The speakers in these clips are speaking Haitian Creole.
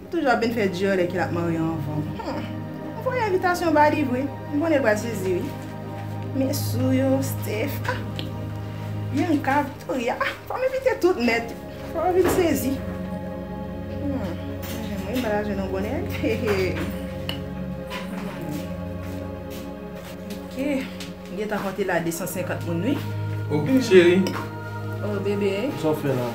Li toujou ap byn fè dyòl lè kel ap marye anvanm humm m voye envitasyon ba li vre m konnen l pral sezi wi men sou yo Steph ah Bianca Victoria ah fòm envite tout nèt fò yo vin sezi humm mwen menm wi m pa ta jwenn yon bon nèg hehe ok. M gentan konte la 250 moun wi. Ok cheri. Oh bebe. Sa w fè la?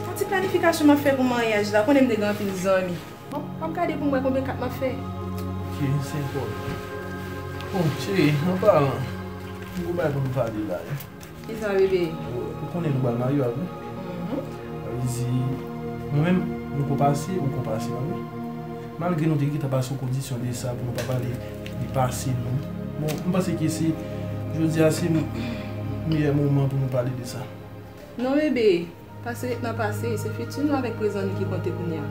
Yon ti planifikasyon map fè pou maryaj la, ou konnen m te gen anpil zanmi. Bon, anm gade pou m wè konbyen kat map fè. Ok, se enpòtan. Oh cheri, anpalan, m gen yon bagay pou m pale la wi. Kisa bebe? Ou konnen nou pral marye a wi. Mwen li di, mwen menm nou ko pase ou ko pase a wi. Malgre nou te gentan pase yon kondisyon de sa pou nou pa pale de pase nou. Bon, m panse ke se jodi a se meyè moman pou nou pale de sa. Non bebe, pase ret nan pase, se fiti nou avèk prezan nou ki konte kounye a.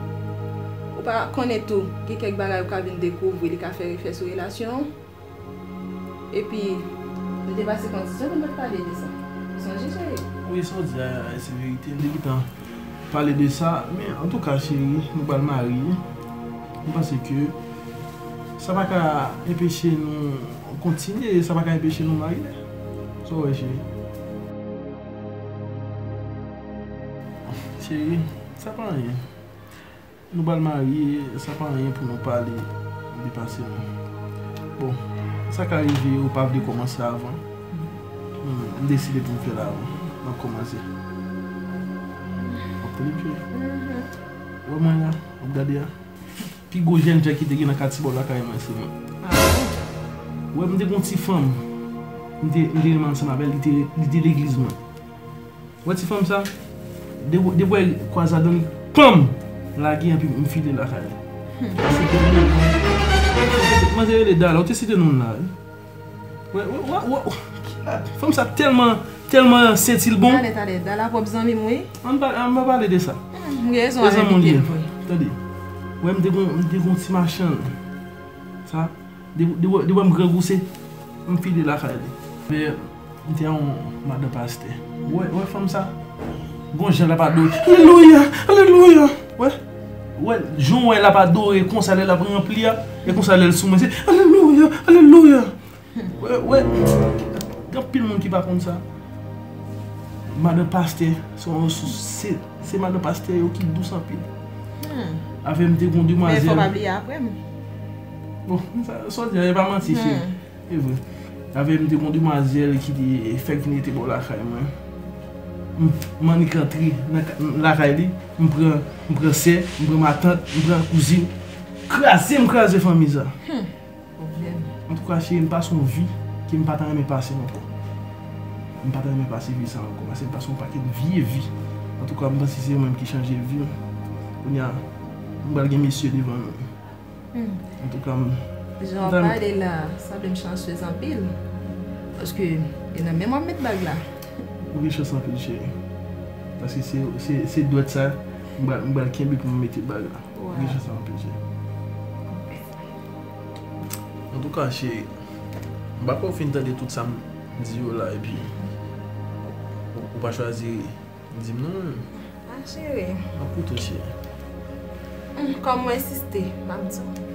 Ou pa konnen tou, gen kèk bagay ou ka vin dekouvri li ka fè refè sou relasyon an. Epi, li te pase kondisyon pou m pa t pale de sa. Ou sonje, cheri? Wi, sa w di a se verite. M te gentan pale de sa. Men, antouka, cheri, nou pral marye. M panse ke sa pa ka enpeche nou kontinye. Sa pa ka enpeche nou marye. Sa w wè, cheri? Cheri, sa pa anyen. Nou pral marye sa pa anyen pou nou pale de pase nou bon sa ka rive ou pa vle komanse avan m deside pou m fè l avan map komanse wap tande pye wè mwen la wap gade a pi gwo jènjan ki te gen nan katye bò lakay mwen se mwen wè m te gen yon ti fanm m te renmen ansanm avè l li te legliz mwen. Ou wè ti fanm sa? Depi wè li kwaze avèm ponm lage anpi m file lakay la. Se te li menm. Manzè rele Dala, ou te site non l la wi. Wè wè wè fanm sa tèlman tèlman sentilbon. Tande tande Dala pwòp zanmi m wi. An n pa pale de sa. M gen rezon al envite l vre. Tande wè m te gon m te gon ti machann sa. Li wè m grangou se m file lakay li. M te yon madan pastè. Ou wè fanm sa? Gon jan l ap adore. Alelouya! Alelouya! Ou wè? Ou wè jan w wè l ap adore konsa lè l ap ranpli a? E konsa lè l sou mwen se alelouya! Alelouya! Ou wè? Gen anpil moun ki pa konn sa. Madan pastè se yon resous. Se madan pastè yo ki dous anpil. Avè m te gen yon demwazèl. Men fò w pa bliye apre m. Bon, sa w di la, e pa manti cheri. E vre. Avè m te gen yon demwazèl ki te fèk vin rete bò lakay mwen. M annik antre lakay li, m pran sè, m pran matant, m pran kouzin. Kraze m kraze fanmi sa. Hum! Pwoblèm. Antouka cheri, m pa son vi ke m pa ta renmen pase ankò. M pa ta renmen pase vi sa ankò. Pase m pase yon pakèt vye vi. Antouka m panse se yo menm ki chanje vi m. Kounya, m pral gen mesye devan nou. Jan wap pale la sanble m chanceuse anpil paske e nan menm wap met bag la. Ou gen chans anpil cheri paske se dwèt sa m pral kenbe pou m mete bag la ou gen chans anpil cheri. Antouka cheri m pa kwè ou fin tande tout sa m di yo la epi ou pa chwazi ri. Dim non menm. Ah chérie. Map koute w chérie. Humm kòm ou ensiste map di w.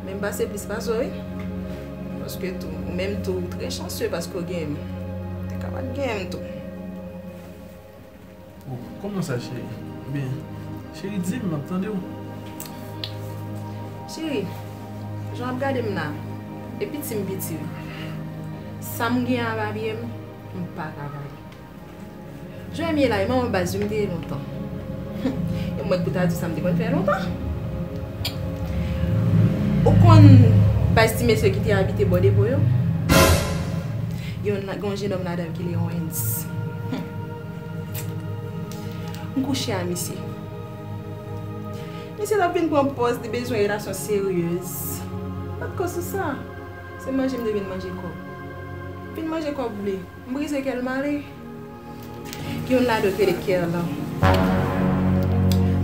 Menm pase plis pase w wi. Paske tou ou menm tou ou trè chansye paske w genyen m. Ou te ka pat genyen m tou. Oh kòman sa chérie? Ebyen chérie di m map tande w. Chérie jan wap gade m la e piti m piti wi. Sam genyen a babye m m paka baye. Jan m ye la e manman baz yo m te ye lontan. Humm e mwen ki pou ta di w sa m te konn fè lontan. Ou konn baz ti mesye ki te abite bò depo yo? Gen yon jenòm ladan yo ki rele Owens. Humm. M kouche a misye. Misye t ap vin pran pòz li bezwen relasyon seryez. Pat ko sou sa. Se manje m te vin manje kòb. M vin manje kòb li. M brize kè l m ale. Youn la dwe t rele Kerlan.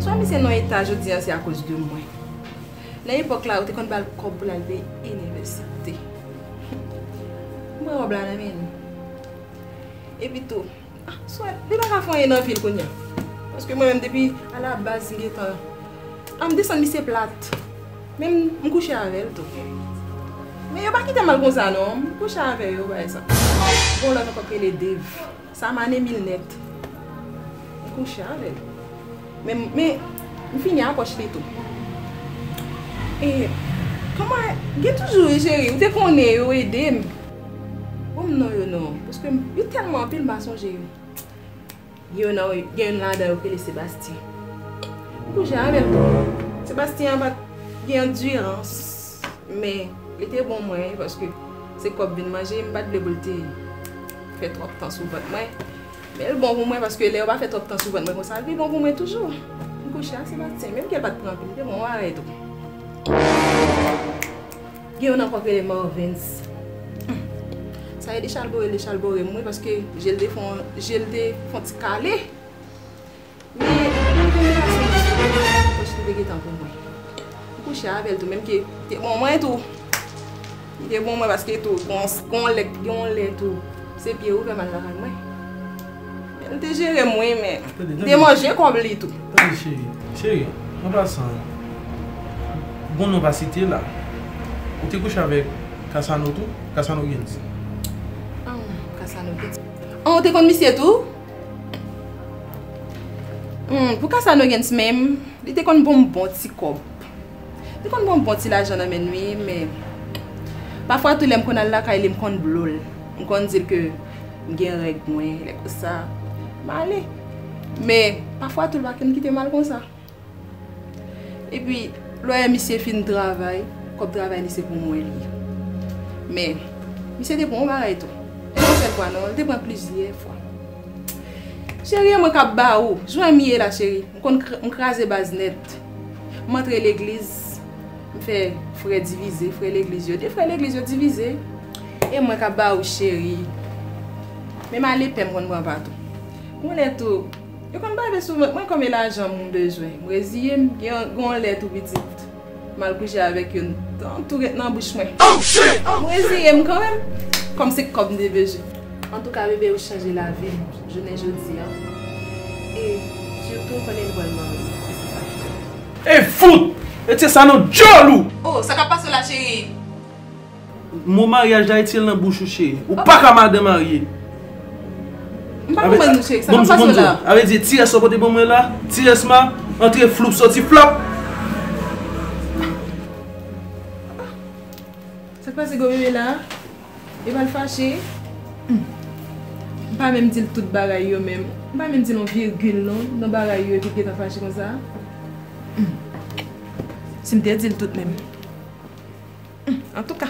Swa misye nan eta jodi an se akoz de mwen. Nan epòk la yo te konn ba l kòb pou l al peye inivèsite. M pran wòb la nan men li. Epi tou, swa li pa ka fè anyen nan vi l kounye a. Paske mwen menm depi alabaz m gen tan. An m desann misye plat. Men m kouche avè l tou. Men yo pa kite m al konsa non. M kouche avè yo bagay sa. Gon lòt ankò k rele Dave. Sa m ane mil nèt. M kouche avè l. Men m fini a pòch li tou. E kòman e. Gen toujou wi cheri. Ou te konnen yo ede m. Bon m non yo non. Paske yo tèlman anpil m pa sonje yo. Gen youn nan gen youn ladan yo ki rele Sebastien. Li pou jè avèl tou. Sebastien an pat gen andirans men li te bon mwen paske se kòb vin manje m pat vle pou l te fè twòp tan sou vant mwen. Men l bon pou mwen paske lè yo pa fè twòp tan sou vant mwen konsa li bon pou mwen toujou. M kouche ak Sebastien menm ke l pat pran anpil li te bon mwen avè l tou. Gen yon ankò k rele Marvens. Humm. Sa e li chalbore li chalbore m wi paske je l te fon je l te fon ti kale. Men nan premye pati m te kouche avè l paske li te gen tan pou mwen. M kouche avè l tou menm ke li te bon mwen tou. Li te bon mwen paske tou gon yon lè tou se pye ou fè mal lakay mwen. Li te jere m wi men li te manje kòb li tou. Tande cheri, cheri an pasan bon non pa site la ou te kouche avèk Kasano tou? Kasano byen di. An Kasano byen di. An ou te konn misye tou? Hum pou Kasano byen di menm li te konn ban m bon ti kòb. Li te konn ban m bon ti lajan nan men l wi men pafwa tou lè m konn al lakay li m konn blo l. M konn di l ke. M gen règ mwen, lè konsa, m ale. Men, pafwa tou l pa konn kite m al konsa. Epi, lè misye fin travay, kòb travay li se pou mwen li ye. Men, misye te pran yon bagay tou. E pa yon sèl fwa non, li te pran plizyè fwa. Cheri, e mwen k ap ba ou. Jwenn m ye la cheri. M konn, m kraze baz nèt. M antre legliz. M fè frè divize, frè legliz yo, 2 frè legliz yo divize. E mwen kap ba ou cheri. Men m ale pè m konn pran patou. Konnen tou, yo konn bave sou vant mwen konbyen lajan m bezwen. M reziye m, gen yon lè tou pitit m al kouche avèk yo, tan tou ret nan bouch mwen. M reziye m kanmenm, kòm se kòb m te bezwen. Antouka bebe ou chanje lavi m jounen jodi an. E sitou konnen nou pral marye. E fout! E tye sa nan djòl ou! Oh sa kap pase la chérie? Mo maryaj la etye l nan bouch ou cheri. Ou paka madan marye. M pa konprann nou cheri, sa kap pase la? A vle di ti S ou pote pou mwen la, ti S ma, antre floup soti flap. Sak pase gwo bebe la? Li pral fache? Humm. M pa menm di l tout bagay yo menm. M pa menm di l yon virgil non nan bagay yo epi l gentan fache konsa. Humm. Si m te di l tout menm. Humm. Antouka.